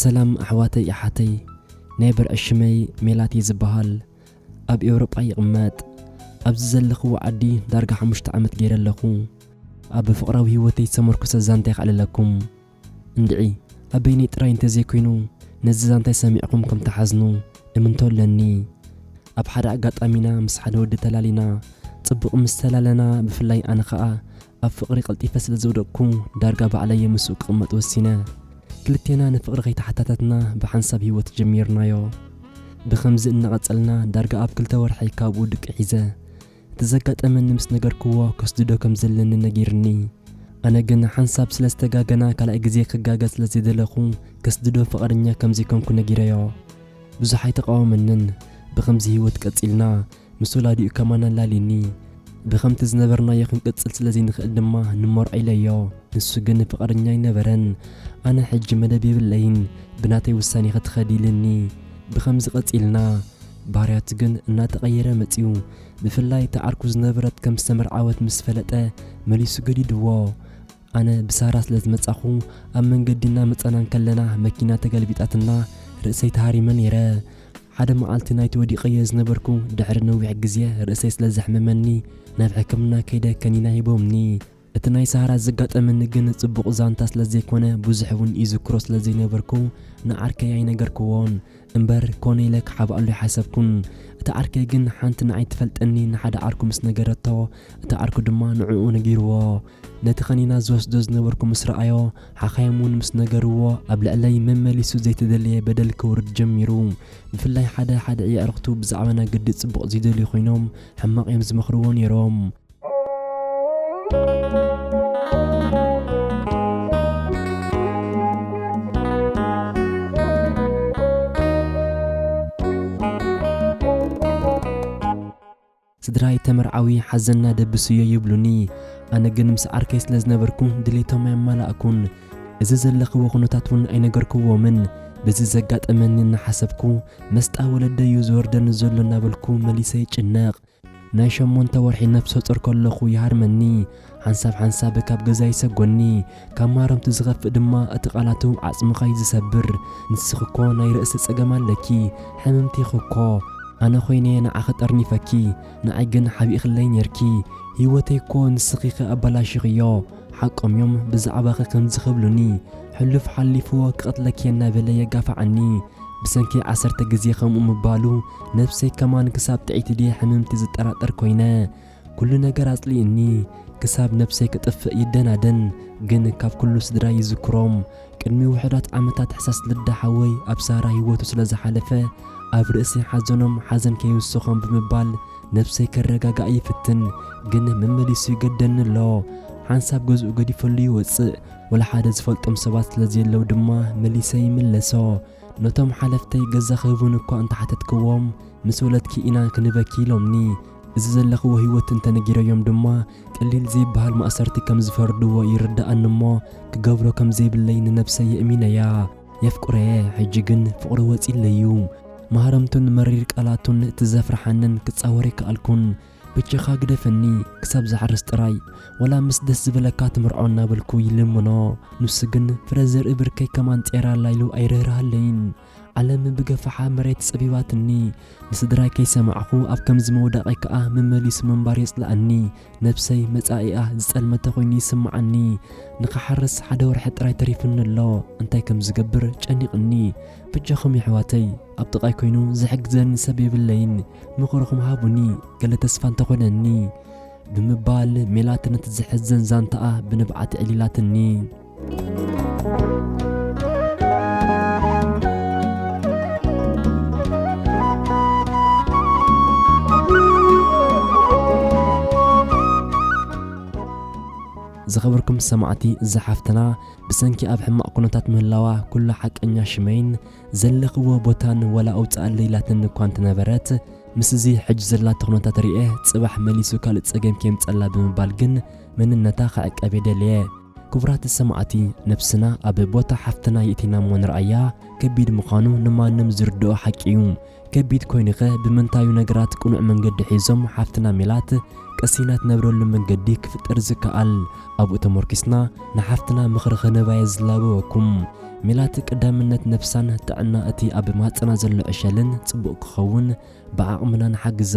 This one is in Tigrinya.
ሰላም ኣሕዋተይ ኣሓተይ ናይ ብርዒ ሽመይ ሜላት እየ ዝበሃል ኣብ ኤውሮጳ ይቕመጥ ኣብዚ ዘለኽዎ ዓዲ ዳርጋ ሓሙሽተ ዓመት ገይረ ኣለኹ ኣብ ፍቕራዊ ህይወተይ ዝተመርኩሰ ዛንታይ ክዕልለኩም እንድዒ ኣብ በይነይ ጥራይ እንተዘይኮይኑ ነዚ ዛንታይ ሰሚዕኹም ከም ትሓዝኑ እምንቶ ኣለኒ ኣብ ሓደ ኣጋጣሚና ምስ ሓደ ወዲ ተላሊና ጽቡቕ ምስ ተላለና ብፍላይ ኣነ ኸኣ ኣብ ፍቕሪ ቀልጢፈ ስለ ዝወደቕኩ ዳርጋ ባዕለይ'የ ምስኡ ክቕመጥ ወሲነ። ክልቴና ንፍቕሪ ከይተሓታተትና ብሓንሳብ ህይወት ጀሚርናዮ። ብኸምዚ እናቐጸልና ዳርጋ ኣብ ክልተ ወርሒ ካብኡ ድቂ ሒዘ። እቲ ዘጋጠመኒ ምስ ነገርክዎ ከስድዶ ከም ዘለኒ ነጊርኒ። ኣነ ግን ሓንሳብ ስለ ዝተጋገና ካልኣይ ግዜ ክጋገ ስለ ዘይደለኹ ከስድዶ ፍቓደኛ ከም ዘይኮንኩ ነጊረዮ። ብዙሕ ኣይተቓወመንን። ብኸምዚ ህይወት ቀጺልና ምስ ወላዲኡ ከማን ኣላልዩኒ። ብኸምቲ ዝነበርናዮ ክንቅጽል ስለ ዘይንኽእል ድማ ንመርዖ ኢለዮ። ንሱ ግን ፍቓደኛ ኣይነበረን። ኣነ ሕጂ መደብ የብለይን፣ ብናተይ ውሳኔ ክትኸዲ ኢሉኒ። ብኸምዚ ቀጺልና። ባህርያቱ ግን እናተቐየረ መጺኡ። ብፍላይ እታ ዓርኩ ዝነበረት ከም ዝተመርዓወት ምስ ፈለጠ መሊሱ ገዲዱዎ። ኣነ ብሳራ ስለ ዝመጻኹ ኣብ መንገዲ እናመጻና እንከለና መኪና ተገልቢጣትና ርእሰይ ተሃሪመ ነይረ። ሓደ መዓልቲ ናይቲ ወዲቐዮ ዝነበርኩ ድሕሪ ነዊሕ ግዜ ርእሰይ ስለ ዘሕመመኒ ናብ ሕክምና ከይደ ከኒና ሂቦምኒ። እቲ ናይ ሳራ ዘጋጠመኒ ግን ጽቡቕ ዛንታ ስለ ዘይኮነ ብዙሕ ውን ይዝክሮ ስለ ዘይነበርኩ ንዓርከይ ኣይነገርክዎን። እምበር ኮነ ኢለ ክሓብኣሉ ኣይሓሰብኩን። እታ ዓርከይ ግን ሓንቲ ንዓይ ትፈልጠኒ ንሓደ ዓርኩ ምስ ነገረቶ እቲ ዓርኩ ድማ ንዕኡ ነጊርዎ። ነቲ ከኒና ዝወስዶ ዝነበርኩ ምስ ረኣዮ ሓኻይም እውን ምስ ነገርዎ ኣብ ልዕለይ መመሊሱ ዘይተደለየ በደል ከውርድ ጀሚሩ። ብፍላይ ሓደ ሓደ እየዕርኽቱ ብዛዕባና ግዲ ጽቡቕ ዘይደልዩ ኮይኖም ሕማቕ እዮም ዝመኽርዎ ነይሮም። ስድራይ ተመርዓዊ ሓዘንና ደብስዮ ይብሉኒ፣ ኣነ ግን ምስ ዓርከይ ስለ ዝነበርኩ ድሌቶም ኣየማላእኩን። እዚ ዘለኽዎ ኩነታት እውን ኣይነገርክዎምን። በዚ ዘጋጠመኒ እናሓሰብኩ መስጣ ወለደይ እዩ ዝወርደኒ ዘሎ እናበልኩ መሊሰ ይጭነቕ። ናይ ሸሞንተ ወርሒ ነፍሰ ጾር ከለኹ ይሃርመኒ። ሓንሳብ ሓንሳብ ካብ ገዛ ይሰጎኒ፣ ካብ ማረምቱ ዝኸፍእ ድማ እቲ ቃላቱ ዓጽምኻ እዩ ዝሰብር። ንስኺ እኮ ናይ ርእሲ ጸገም ኣለኪ፣ ሕምምቲ ኢኺ እኮ። ኣነ ኮይነ ንዓኺ ጠርኒፈኪ፣ ንዓይ ግን ሓቢእክለይ ኔርኪ። ህይወተይ እኮ ንስኺ ኢኺ ኣበላሺኽዮ። ሓቆም እዮም ብዛዕባኺ ከምዚ ክብሉኒ። ሕሉፍ ሓሊፉ ክቐትለኪ'የ እናበለ የጋፍዓኒ። ብሰንኪ ዓሰርተ ግዜ ከምኡ ምባሉ ነብሰይ ከማን ክሳብ ጥዕይቲ ድየ ሕምምቲ ዝጠራጠር ኮይነ። ኩሉ ነገር ኣጽሊኡኒ ክሳብ ነብሰይ ክጥፍእ ይደናደን ግን ካብ ኩሉ ስድራይ ይዝክሮም ቅድሚ ውሑዳት ዓመታት ሕሳስ ልዳ ሓወይ ኣብ ሳራ ሂወቱ ስለ ዝሓለፈ ኣብ ርእሲ ሓዘኖም ሓዘን ከይውስኾም ብምባል ነብሰይ ከረጋጋእ ይፍትን ግን መመሊሱ ይገደኒ ኣሎ ሓንሳብ ገዝኡ ገዲፈሉ ይወጽእ ወላሓደ ዝፈልጦም ሰባት ስለ ዘየለው ድማ መሊሰ ይምለሶ ነቶም ሓለፍተይ ገዛ ክህቡኒ እኳ እንተሓተትክዎም ምስ ወለድኪ ኢና ክንበኪ ኢሎምኒ እዚ ዘለኽዎ ህይወት እንተነጊረዮም ድማ ቀሊል ዘይብሃል ማእሰርቲ ከም ዝፈርድዎ ይርድኣኒ እሞ ክገብሮ ከም ዘይብለይ ንነብሰይ የእሚነያ። የፍቅሮ'የ ሕጂ ግን ፍቕሩ ወጺኡለይ'ዩ። ማህረምቱን መሪር ቃላቱን እቲ ዘፍርሓንን ክጻወር ኣይከኣልኩን። በጃኻ ግደፈኒ ክሳብ ዝሓርስ ጥራይ ዋላ ምስ ደስ ዝበለካ ትምርዖ እናበልኩ ይልምኖ። ንሱ ግን ፍረ ዘርኢ ብርከይ ከማን ጼራላይ ኢሉ ኣይርህርሃለይን። ዓለም ብገፋሓ መሬት ጸቢባትኒ ንስድራይ ከይሰማዕኹ ኣብ ከምዚ ምውዳቐይ ከኣ መመሊሱ ምንባር የጽልኣኒ ነብሰይ መጻኢኣ ዝጸልመተ ኮይኑ ይስምዓኒ ንኽሓርስ ሓደ ወርሒ ጥራይ ተሪፉኒ ኣሎ እንታይ ከም ዝገብር ጨኒቕኒ ብጃኹም የሕዋተይ ኣብ ጥቓይ ኮይኑ ዝሕግዘኒ ሰብ የብለይን ምኽርኹም ሃቡኒ ገለ ተስፋ እንተኾነኒ ብምባል ሜላት ነቲ ዘሕዝን ዛንታኣ ብንብዓት ዕሊላትኒ። ዝኸበርኩም ሰማዕቲ እዛ ሓፍትና ብሰንኪ ኣብ ሕማቕ ኩነታት ምህላዋ ኩሉ ሓቀኛ ሽመይን ዘለኽዎ ቦታን ወላ ኣውፅኣለይ ኢላትኒ እኳ እንተነበረት ምስ እዚ ሕጂ ዘላቶ ኩነታት ርኤ ጽባሕ መሊሱ ካልእ ጸገም ከየምጸላ ብምባል ግን መንነታ ክዕቀብ የደልየ ክቡራት ሰማዕቲ ነብስና ኣብ ቦታ ሓፍትና የእቲናሞ ንርኣያ ከቢድ ምዃኑ ንማንም ዝርድኦ ሓቂ እዩ ከቢድ ኮይኑኸ ብምንታዩ ነገራት ቅኑዕ መንገዲ ሒዞም ሓፍትና ሜላት ቀሲና ትነብረሉ መንገዲ ክፍጠር ዝከኣል ኣብኡ ተሞርኪስና ንሓፍትና ምኽሪ ኽንህባየ ዝላበወኩም ሜላት ቀዳምነት ነብሳን ጥዕና እቲ ኣብ ማህጸና ዘሎ ዕሸልን ጽቡቕ ክኸውን ብዓቕምና ንሓግዛ።